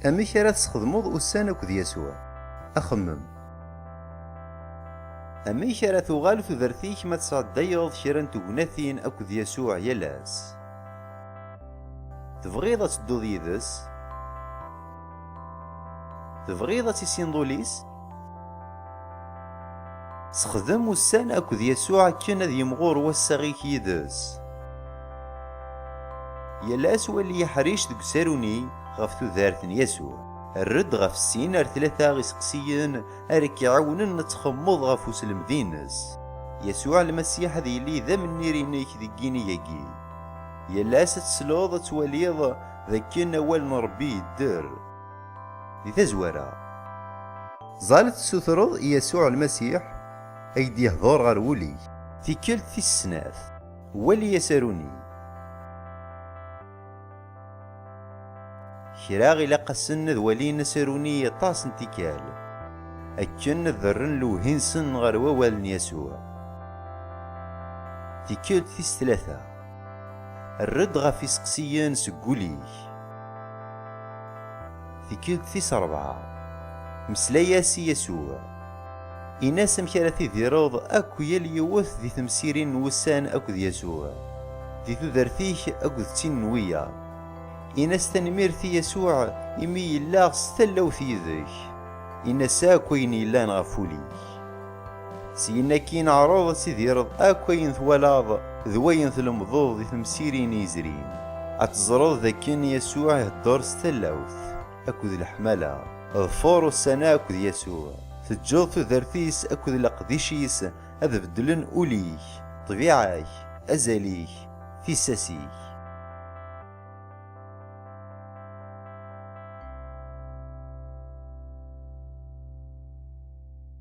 Amek ara tesxedmeḍ ussan akked Yasuɛ? Axemmem. Amek ara tuɣal tudert-ik ma tesɛeddayeḍ kra n tegnatin akked Yasuɛ yal ass? Tebɣiḍ ad tedduḍ yid-s? Tebɣiḍ ad tissineḍ ul-is? Sexdem ussan akked Yasuɛ akken ad yimɣur wassaɣ-ik yid-s. Yal ass wali aḥric deg usaru-nni ɣef tudert n Yasuɛ. Err-d ɣef sin ar tlata iseqsiyen ara k-iɛawnen ad txemmeḍ ɣef uslemd-nnes. Yasuɛ Lmasiḥ ad yili d amennir-nnek deg yinig-agi. Yal ass ad tesleḍ ad twaliḍ d akken Awal n Ṛebbi yedder. Di tazwara, ẓẓal tessutreḍ i Yasuɛ Lmasiḥ a k-d-yehḍur ɣer wul-ik. Tikkelt tis snat, wali asaru-nni. Kra ilaq-asen ad walin asaru-nni aṭas n tikkal, akken ad rren lewhi-nsen ɣer wawal n Yasuɛ. Tikkelt tis tlata. Err-d ɣef iseqsiyen seg wul-ik. Tikkelt tis rebɛa, meslay-as i Yasuɛ. Ini-as amek ara tidireḍ akk yal yiwet di temsirin n wussan akked Yasuɛ, di tudert-ik akked tin n wiyaḍ. Ini-as tanemmirt i Yasuɛ imi yella s tallawt yid-k. Ini-as akk ayen yellan ɣef wul-ik. Syin akkin ɛreḍ ad tidireḍ akk ayen twalaḍ d wayen tlemdeḍ di temsirin yezrin. Ad teẓreḍ d akken Yasuɛ iheddeṛ s tallawt akked leḥmala. Ḍfer ussan-a akked Yasuɛ. Teǧǧeḍ tudert-is akked leqdic-is ad beddlen ul-ik, ṭṭbiɛa-k, azal-ik, tissas-ik.